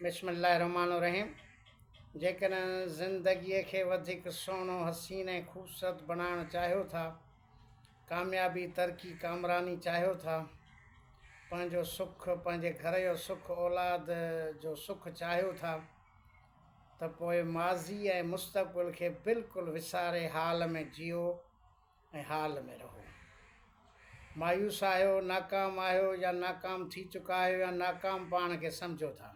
بسم الله الرحمٰن الرحيم جيڪڏهن زندگيء کي وڌيڪ سهڻو، حسين ۽ خوبصورت بڻائڻ چاهيو ٿا، ڪاميابي، ترقي، ڪامراني چاهيو ٿا، پنهنجو سک، پنهنجي گهر جو سک، اولاد جو سک چاهيو ٿا ته پوء ماضي ۽ مستقبل کي بلڪل وساري حال ۾ جيئو. ۽ حال ۾ رهو. مايوس آهيو، ناڪام آهيو يا ناڪام ٿي چڪا آهيو يا ناڪام پاڻ کي سمجهو ٿا.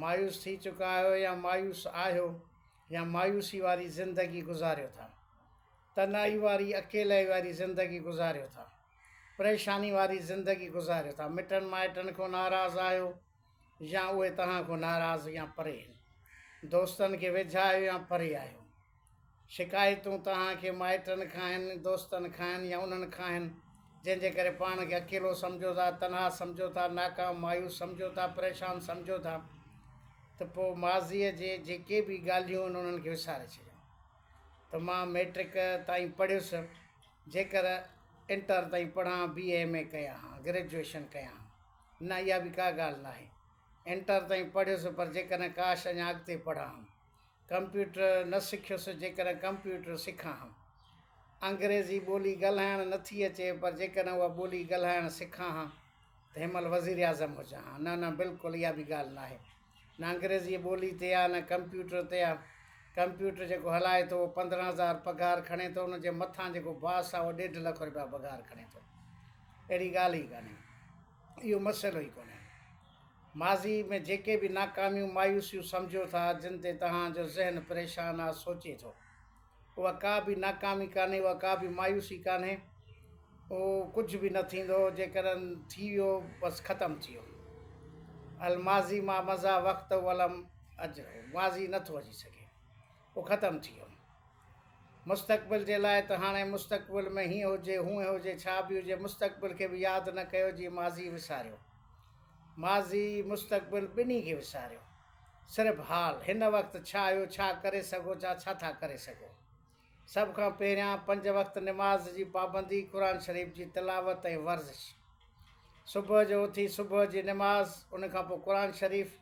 مايوس ٿي چڪا آهيو يا مايوس آهيو يا مايوسي واري زندگي گذاريو ٿا. تنهائي واري، اڪيلائي واري زندگي گذاريو ٿا. پريشاني واري زندگي گذاريو ٿا. مٽن مائٽن کون ناراض آهيو يا اهي توهان کون ناراض يا پري. دوستن کي ويجها آهيو يا پري آهيو. شڪايتون توهان کي مائٽن کان آهن، دوستن کان آهن يا انهن کان آهن جنهن جي ڪري پاڻ کي اڪيلو سمجهو ٿا، تنها سمجهو ٿا، ناڪام، مايوس سمجهو ٿا، پريشان سمجهو ٿا ته پوء ماضيء جي جيڪي به ڳالهيون آهن انهن کي وساري ڇڏيو ته مان مئٽرڪ تائين پڙهيس جيڪر انٽر تائين پڙهان، بي اي ايم اي ڪيان ها، گريجوئيشن ڪيان ها، نه اها به ڪا ڳالهه ناهي، انٽر تائين پڙهيس پر جيڪڏهن ڪاش اڃا اڳتي پڙهان ها ڪمپيوٽر نه سکيس جيڪڏهن ڪمپيوٽر سکان ها. انگريزي ٻولي ڳالهائڻ نه ٿي اچي پر جيڪڏهن اها ٻولي ڳالهائڻ سکان ها ته هن مهل وزيراعظم هجان ها. نه نه بلڪل اها به ڳالهه ناهي. نه انگريزي ٻولي تي آ نه ڪمپيوٽر تي آ. ڪمپيوٽر جيڪو هلائي ٿو اهو پندرهن هزار پگهار کڻي ٿو ان جي مٿان جيڪو باس آ اهو ڏيڍ لک رپيا پگهار کڻي ٿو. اهڙي ڳالهه ئي ڪانهي. اهو مسئلو ئي ڪونهي. ماضي ۾ جيڪي به ناڪاميون مايوسيون سمجهو ٿا جن تي توهان جو ذهن پريشان آ سوچي ٿو اها ڪا به ناڪامي ڪانهي اها ڪا به مايوسي ڪانهي اهو ڪجهه به نه ٿيندو جيڪڏهن ٿي ويو بس ختم ٿي ويو الماضي ما مضا وقته ولم اجره ماضي نٿو اچي سگهي هو ختم ٿي ويو. مستقبل جي لاء ته هاڻي مستقبل ۾ هيئن هجي، هونئن هجي، ڇا به هجي، مستقبل کي به ياد نه ڪيو جي ماضي وساريو. ماضي، مستقبل ٻنهي کي وساريو. صرف حال، هن وقت ڇا آهيو، ڇا ڪري سگهو ٿا، ڇا ٿا ڪري سگهو. سڀ کان پهريان پنج وقت نماز جي پابندي، قرآن شريف جي تلاوت ۽ ورزش. صبح جو اٿي صبح جي نماز، ان کان پوء قرآن شريف.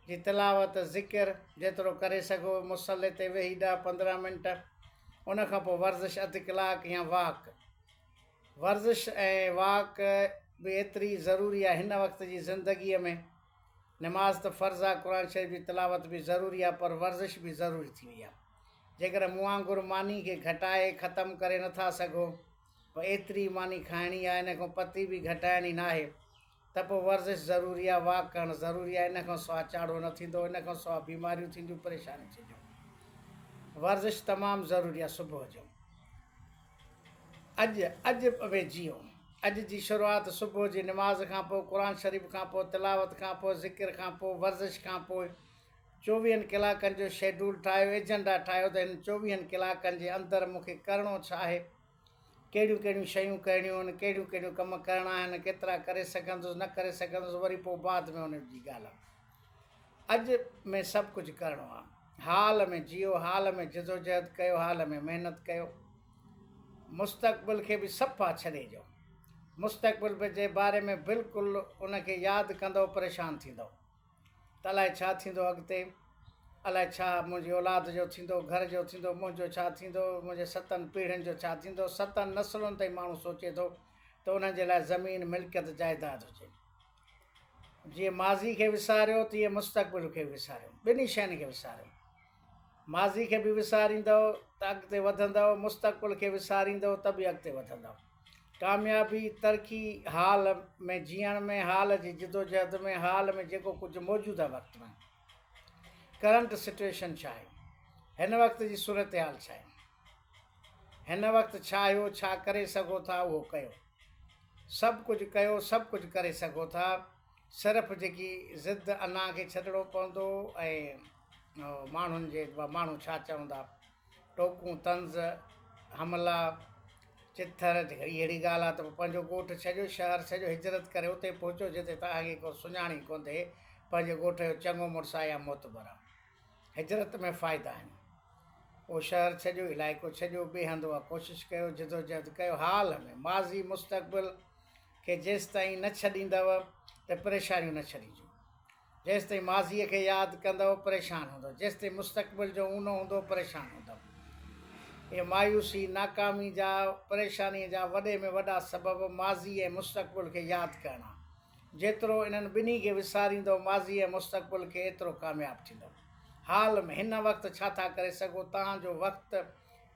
جي تلاوت، ذڪر، جيترو ڪري سگهو، مصلي تي ويهي ڏهه پندرهن منٽ، ان کان پوء ورزش اڌ ڪلاڪ يا واڪ. ورزش ۽ واڪ به ايتري ئي ضروري آهي هن وقت جي زندگيء ۾. نماز ته فرض آهي، قرآن شريف جي تلاوت به ضروري آهي پر ورزش به ضروري ٿي وئي آهي. جيڪڏهن مون وانگر ماني کي گهٽائي ختم ڪري نٿا سگهو، پوء ايتري ئي ماني کائڻي آهي، ان کان پتي به گهٽائڻي ناهي. ته پوء ورزش ضروري آهي، واڪ ڪرڻ ضروري آهي، ان کان سواء چاڙهو نه ٿيندو، ان کان سواء بيماريون ٿينديون، پريشانيون ٿينديون. ورزش تمام ضروري آهي صبح جو. اڄ اڄ ۾ جيئو. اڄ جي شروعات صبح جي نماز کان پوء، قرآن شريف کان پوء، تلاوت کان پوء، ذڪر کان پوء، ورزش کان پوء. چوويهن ڪلاڪن جو شيڊول ٺاهيو، ايجنڊا ٺاهيو ته هن چوويهن ڪلاڪن جي اندر مون کي ڪرڻو ڇا آهي؟ ڪهڙيون ڪهڙيون شيون ڪرڻيون آهن، ڪهڙيون ڪهڙيون ڪم ڪرڻا آهن، ڪيترا ڪري سگهندس، نه ڪري سگهندس، وري پوء بعد ۾ ان جي ڳالهه. اڄ ۾ سڀ ڪجهه ڪرڻو آهي. حال ۾ جيئو، حال ۾ جدوجهد ڪيو، حال ۾ محنت ڪيو. مستقبل کي به صفا ڇڏي ڏيو. مستقبل جي باري ۾ بلڪل ان کي ياد ڪندؤ پريشان ٿيندؤ. ته الائي ڇا ٿيندو اڳتي، الائي ڇا منهنجي اولاد جو ٿيندو، گهر جو ٿيندو، منهنجو ڇا ٿيندو، منهنجي ستن پيڙهين جو ڇا ٿيندو، ستن نسلن تائين ماڻهو سوچي ٿو ته انهن جي لاء زمين، ملڪيت، جائداد هجي. جيئن ماضي کي وساريو تيئن مستقبل کي به وساريو، ٻنهي شين کي وساريو. ماضي کي به وساريندؤ ته اڳتي وڌندؤ، مستقبل کي وساريندؤ ته به اڳتي وڌندؤ. ڪاميابي، ترقي، حال ۾ جيئڻ ۾ حال جي جدوجهد ۾ حال ۾ جيڪو ڪجهه موجوده وقت ۾. ڪرنٽ سٽوئيشن ڇا آهي؟ هن وقت جي صورتحال ڇا آهي؟ هن وقت ڇا آهيو، ڇا ڪري سگهو ٿا اهو ڪيو. سڀ ڪجهه ڪيو، سڀ ڪجهه ڪري سگهو ٿا. صرف جيڪي ضد انا کي ڇڏڻو پوندو ۽ ماڻهن جي ماڻهو ڇا چوندا ٽوڪون طنز حملا چٿر اهڙي اهڙي ڳالهه آ ته پنهنجو ڳوٺ ڇڏيو شهر ڇڏيو هجرت ڪري اتي پهچو جتي توهان کي ڪو سڃاڻي ڪوندي پنهنجي ڳوٺ جو چڱو مڙس آ يا معتبر آ هجرت ۾ فائدا آهن او شهر ڇڏيو علائقو ڇڏيو ٻي هنڌ اها ڪوشش ڪيو جدوجهد ڪيو حال ۾ ماضي مستقبل کي جيستائين نه ڇڏيندؤ ته پريشانيون نه ڇڏيجو. جيستائين ماضيء کي ياد ڪندؤ پريشان هوندؤ. جيستائين مستقبل جو اونو هوندو پريشان هوندؤ. اهي مايوسي، ناڪامي جا، پريشانيء جا وڏي ۾ وڏا سبب ماضي ۽ مستقبل کي ياد ڪرڻ آ. جيترو انهن ٻنهي کي وساريندؤ ماضي ۽ مستقبل کي ايترو ڪامياب ٿيندؤ. حال ۾ هن وقت ڇا ٿا ڪري سگهو؟ توهان جو وقت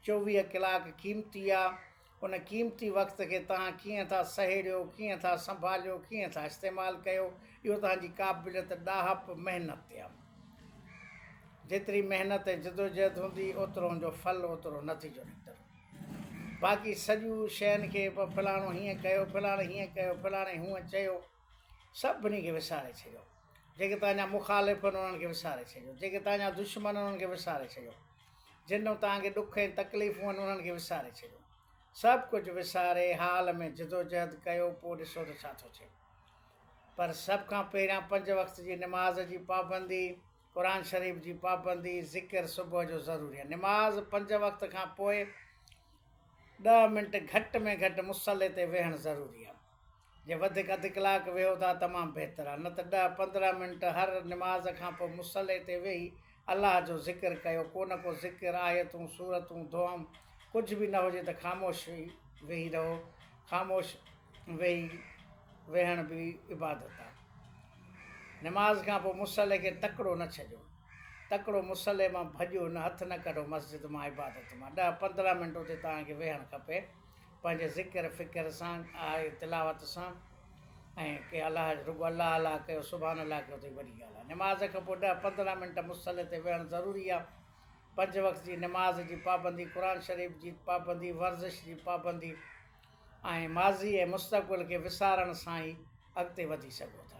چوويهه ڪلاڪ قيمتي آ. ان قيمتي وقت کي توهان ڪيئن ٿا سهيڙيو، ڪيئن ٿا سنڀاليو، ڪيئن ٿا استعمال ڪيو، اهو توهان جي قابليت، ڏاهپ، محنت تي آهي. جيتري محنت ۽ جدوجهد هوندي، اوترو ان جو ڦل، اوترو نتيجو نڪتل هوندو. باقي سڄيون شين کي فلاڻو هيئن ڪيو، فلاڻي هيئن ڪيو، فلاڻي هونئن چيو، سڀني کي وساري ڇڏيو، جيڪي توهان جا مخالف آهن انهن کي وساري ڇڏيو، جيڪي توهان جا دشمن آهن انهن کي وساري ڇڏيو، جن ڏانهن توهان کي ڏک ۽ تڪليفون آهن انهن کي وساري ڇڏيو، سڀ ڪجهه وساري حال ۾ جدوجهد ڪيو پوء ڏسو ته ڇا ٿو ٿئي. پر سڀ کان پهريان پنج وقت جي نماز جي پابندي، قرآن شريف جي پابندي، ذڪر صبح جو ضروري آهي. نماز پنج وقت کان پوء ڏهه منٽ گهٽ ۾ گهٽ مصلي تي ويهڻ ضروري آهي. جي وڌيڪ اڌ ڪلاڪ ويهو ٿا تمام بهتر آهي نه ته ڏهه پندرهن منٽ هر نماز کان پوء مصلي تي ويهي الله جو ذڪر ڪيو ڪو نه ڪو ذڪر آيتون سورتون دعائون ڪجهه به نه هجي ته خاموش ويهي رهو خاموش ويهي ويهڻ به عبادت آهي نماز کان پوء مصلي کي تڪڙو نه ڇڏيو تڪڙو مصلي مان ڀڄو نه هٿ نه ڪڍو مسجد مان عبادت مان ڏهه پندرهن منٽ اتي توهان کي ويهڻ کپي پنهنجي ذڪر فڪر سان آهي تلاوت سان ۽ ڪي الله رڳو الله الله ڪيو سبحان الله ڪيو اٿئي وڏي ڳالهه آهي نماز کان پوء ڏهه پندرهن منٽ مصلي تي ويهڻ ضروري آهي پنج وقت جي نماز جي پابندي قرآن شريف جي پابندي ورزش جي پابندي ۽ ماضي ۽ مستقبل کي وسارڻ سان ئي اڳتي وڌي سگهو ٿا